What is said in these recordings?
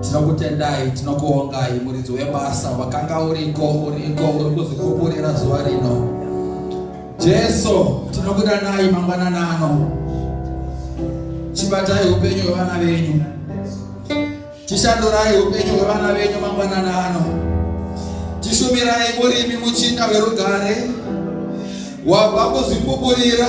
tinokutendai tinokuongai muridzi webasa wakanga uriko uriko uri kuzvikuburira zuva rino jesu tinokudanai mangwanana ano chibatai upenyu hwevana venyu chishandurai upenyu hwevana venyu mangwanana ano tishumirai murimi muchinda werugare wabva kuzvikuburira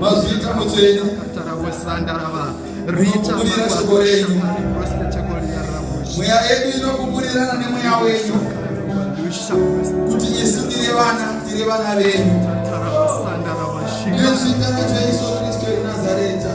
mazviita mutsvene rinokuburira shoko renyu mweya yedu inokuburirana nemweya wenyu kuti isu tiri vana tiri vana venyu nezvita rajesu kristu enazareta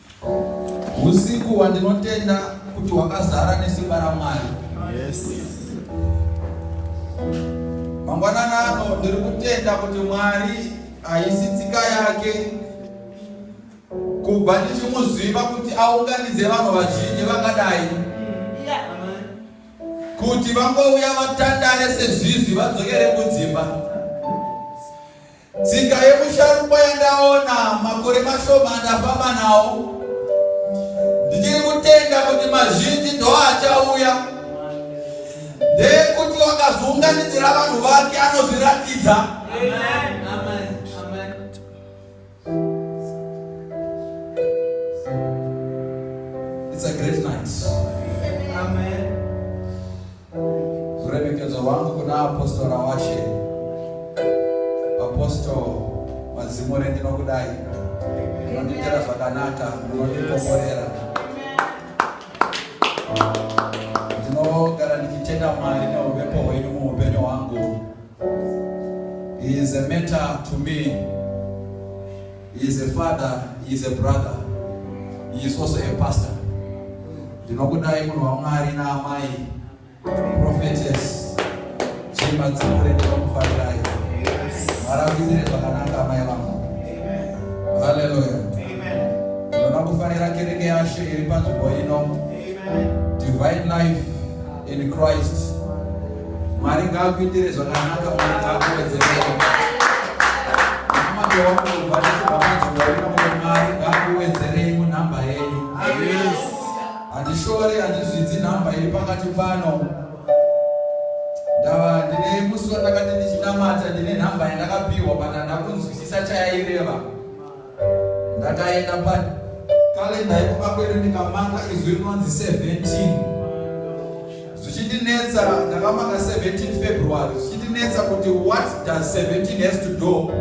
Usiku wandinotenda kuti wakazara nesimba raMwari. Yes. Mangwanana ano ndiri kutenda kuti Mwari haisi tsika yake kubva ndichimuziva kuti aunganidze vanhu vazhinji vakadai kuti vangouya vatandare sezvizvi vadzokere kudzimba Tsika yemusharukwa yandaona makore mashoma andafamba nawo ndichiri kutenda kuti mazhinji ndoachauya ndeyekuti wakazounganidzira vanhu vake anozviratidza It's a great night. Amen. Ruremekedzo rwangu kuna apostora washe apostle mazimure ndinokudai munondiitira zvakanaka munondikomborera ndinogara ndichitenda mwari neuvepo hwenyu muupenyu hwangu is a matter to me He is a father, he is a brother. He is also a pastor. Ndinokudai munhu waMwari naamai prophetess Chimba Dzimure ndinokufarirai. Maravidzire zvakanaka amai vangu. Hallelujah. Ndinoda kufarira kereke yaShe iri panzvimbo ino. Divine life in Christ. Mwari ngaakuitire zvakanaka, Mwari ngaakuwedzerere. Mambo wangu ubatizo bamajinga wino mwe Mwari ngaakuwedzerei munhamba yenyu. Handishore handizvidzi nhamba iri pakati pano. Ndava ndine musi wandakati ndichinamata ndine nhamba yandakapiwa but handakunzwisisa chayaireva. ndakaenda pa kalenda yekumba kwedu ndikamaka izwi rinonzi 17 zvichindinetsa ndakamaka 17 february zvichindinetsa kuti what does 17 has to do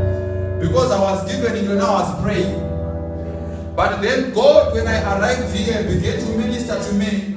because i was given it when i was praying but then god when i arrived here began to minister to me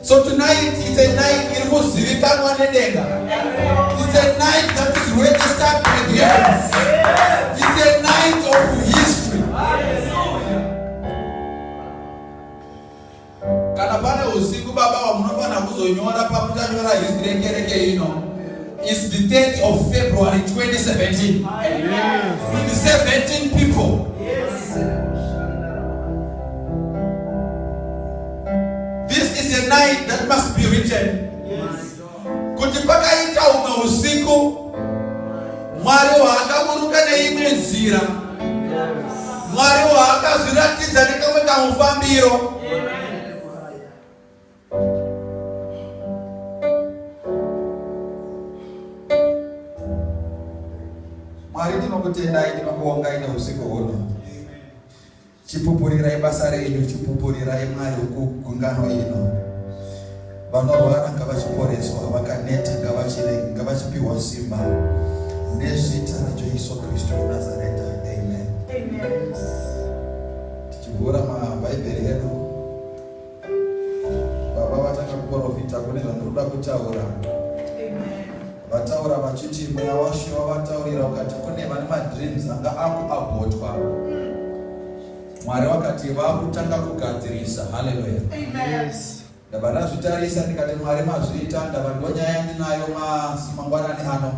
So tonight it's a night iri kuzivikanwa nedenga. It's a night that is registered by the heavens. It's a night of history. Kana pane usiku baba wamunofanira kuzonyora pamuchanyora history yekereke ino is the 30th of February 2017. With 17 people. This is a night that must be written. Yes. Kuti pakaita umwe usiku Mwari waakaburuka neimwe nzira. Mwari waakazviratidza nekamwe kamufambiro. Mwari tinokutendai tinokuongai neusiku huno. Chipupurirai basa renyu, chipupurirai Mwari wokugungano ino. Vanorwara ngavachiporeswa, vakaneta ngavachirege, ngavachipiwa simba nezita raJesu Kristu weNazareta. Amen. Amen. Tichivhura maBhaibheri edu. baba vatanga kuprofita kune zvandinoda kutaura vataura vachiti mweya washe wavataurira ukati kune vane madreams anga akuabhotwa mwari vakati vakutanga kugadzirisa haleluya ndava ndazvitarisa ndikati mwari mazviita ndava ndonyaya ndinayo mangwanani ano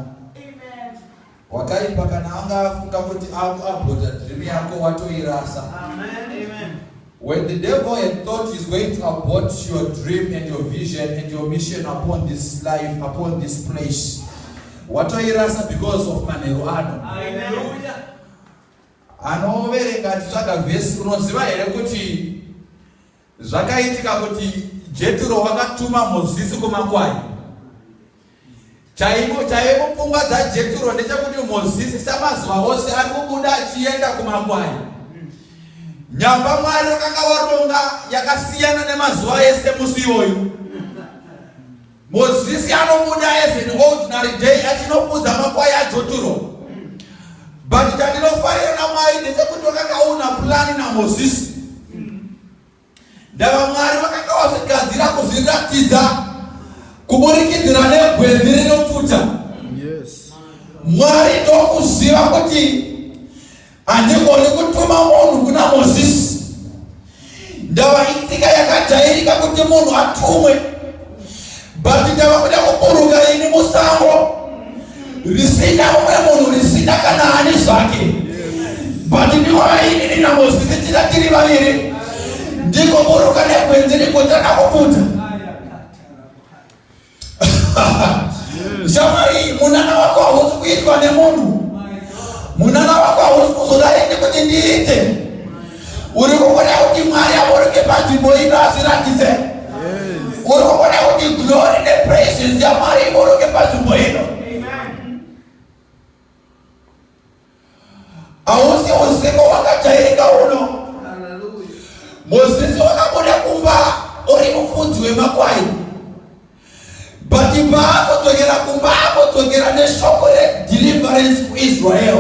Wakaipa kana anga afunga kuti aku abota dream yako watoirasa. Amen. Amen. When the devil had thought he's going to abort your dream and your vision and your mission upon this life, upon this place, watoirasa because of manheru ano. Hallelujah. Anoverenga titsvaga vhesi unoziva here kuti Zvakaitika kuti Jeturo wakatuma Mozisi kumakwai. Chaimo chaimo pfungwa dzaJeturo ndechekuti Mozisi samazuva ose ari kubuda achienda kumakwai. Nyamba Mwari wakanga waronga yakasiyana nemazuva ese musi iwoyu. Mozisi anobuda as an ordinary day achinofudza makwai adzoturo but chandinofarira namwari ndechekuti vakakaona pulani namozisi ndava mwari vakanga vazvigadzira kuzviratidza kuburikidzira negwenzi rinopfuta mwari ndokuziva kuti handigoni kutuma munhu kuna mozisi ndava itsika yakajairika kuti munhu atumwe but ndava kuda kuburuka ini musango risina umwe munhu risina kana ani zvake but ndiwaainini namozisi tira tiri vaviri ndikoburuka negwenzi rikutana kupfuta shamwari munana wako hausi kuitwa nemunhu munana wako hausi kuzodai nekuti ndiite uri kuona kuti mwari avoreke panzvimbo ino asiratidze uri kuona kuti glory nepraises yamwari ivoreke panzvimbo ino hausi usiku wakajairika uno mozisi wakabuda kumba uri mufudzi wemakwai but paakudzokera kumba akudzokera neshoko redeliverance kuisrael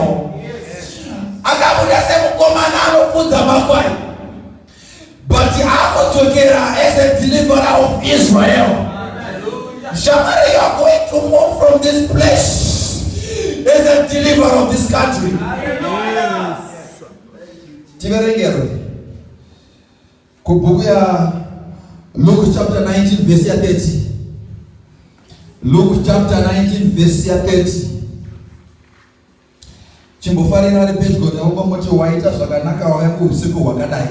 akabuda semukomana anofudza makwai But akodzokera as a deliverer of Israel. Shamari, you are going to move from this place as a deliverer of this country. Yes. Tiverengerwe. Kubhuku ya Luke chapter 19 verse 30. Luke chapter 19 verse 30. Chimbofarira ari pedyo newe kwamoti waita zvakanaka wauya kuusiku hwakadai.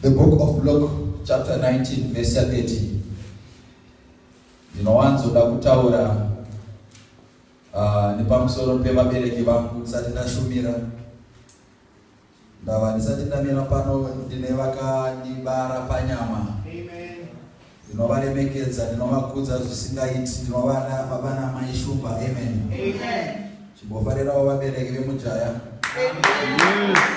The book of Luke chapter 19 verse 30 ndinowanzoda kutaura uh, nepamusoro pevabereki vangu ndisati ndashumira Ndava ndisati ndamira pano ndine vakandibara panyama ndinovaremekedza ndinovakudza zvisingaiti ndinovada baba namai shumba amen chimbofarirawo vabereki vemujaya yes.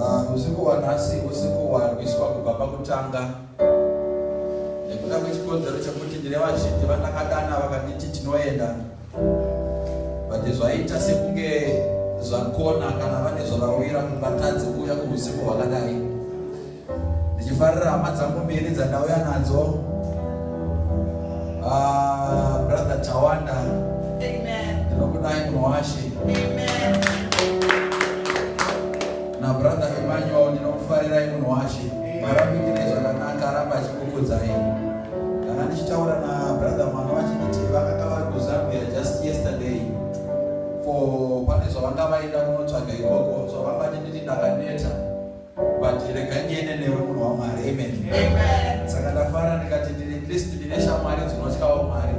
Ah, usiku wanhasi usiku warwiswa kubva pakutanga nekuda kwechikonzero chekuti ndine vazhinji vandakadana vakanditi tinoenda but zvaita sekunge zvakona kana vane zvavawira kungatadzi kuuya kuusiku hwakadai ndichifarira hama dzangu mbiri dzandauya nadzo ah, brother tawanda ndinokudai munhu washe nabrother emmanuel ndinokufarirai munhu washe marapikire zvakanaka aramba achikukudzai kana ndichitaura nabrother mwana vachinditi vakanga vari kuzambia just yesterday for pane zvavanga vaenda kunotsvaga ikoko zvavanga chinditi ndakaneta but rega ndiende newe munhu wamwari amen saka ndafara ndikati ndine list ndine shamwari dzinotyawo mwari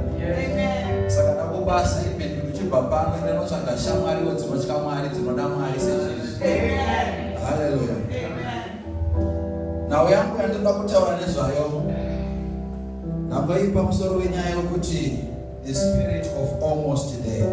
saka ndakubasa amen ndichibva pano ndinotsvaga shamwariwo dzinotya mwari dzinoda mwari sezvizvi haleluya nhau yangu yandinoda kutaura nezvayo ndamboipa musoro wenyaya yokuti the spirit of almost there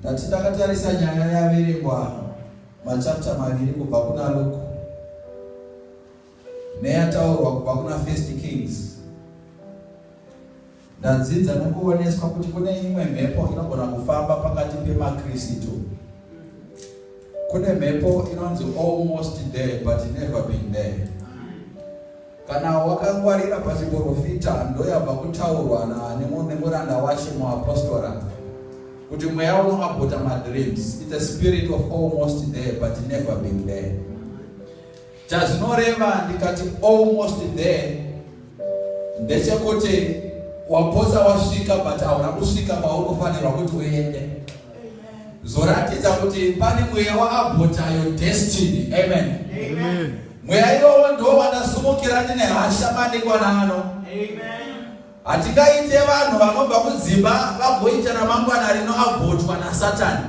Ndati ndakatarisa nyaya yaverengwa machapta maviri kubva kuna Luke neyataurwa kubva kuna First Kings. Ndadzidza nokuoneswa kuti kune imwe mhepo inogona kufamba pakati pemaKristu. Kune mhepo inonzi almost there but never been there. Kana wakangwarira pachiporofita ndoyabva kutaurwa nemuranda washe muapostora kuti mweya unoabhota madreams its a spirit of almost there but never been there chazvinoreva ndikati almost there ndechekuti wapotsa wasvika but hauna kusvika paunofanirwa kuti uende zvoratidza kuti pane mweya waabhotayo destiny amen mweya iwowo ndo wandasumukira ndine hasha madekwana ano hatingaite vanhu vanobva kudzimba vagoita ramangwana rino abhotwa nasatani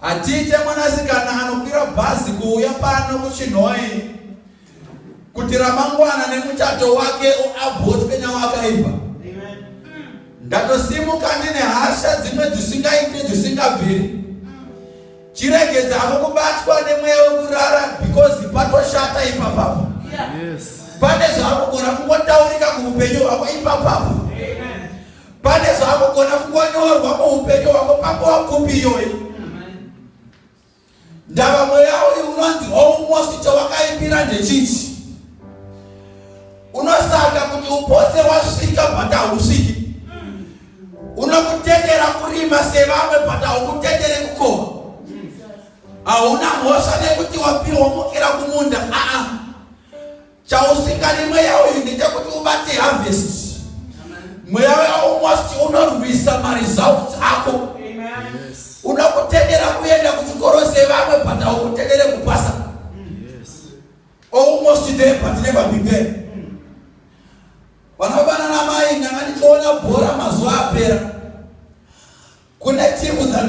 hatiite mwanasikana anokwira bhazi kuuya pano kuchinhoi kuti ramangwana nemuchato wake uabhotswe nawakaipa ndatosimuka ndine hasha dzimwe dzisingaite dzisingabviri chiregedza havo kubatwa nemweya wekurara because patoshata ipapapo pane zvaakugona kungotaurika kuupenyu hwako ipapapo pane zvaakugona kungonyorwa muupenyu hwako pakuwa kupi iyoyi Ndava mweya uyu unonzi almost chawakaipira ndechiti unosaka kuti upotse wasvika but hausviki unokutendera kurima sevamwe but haukutendere kukoma hauna mhosva nekuti wapirwa mukira kumunda aa chausingadi mweya uyu ndechekuti ubate harvest mweya uyu most unorwisa maresults ako uda kutendera kuenda kuchikoro sevamwe but aukutendere kupasa almost there but never be there vanobanana mai ndanga ndichiona bhora mazuva apera kune timu dzanda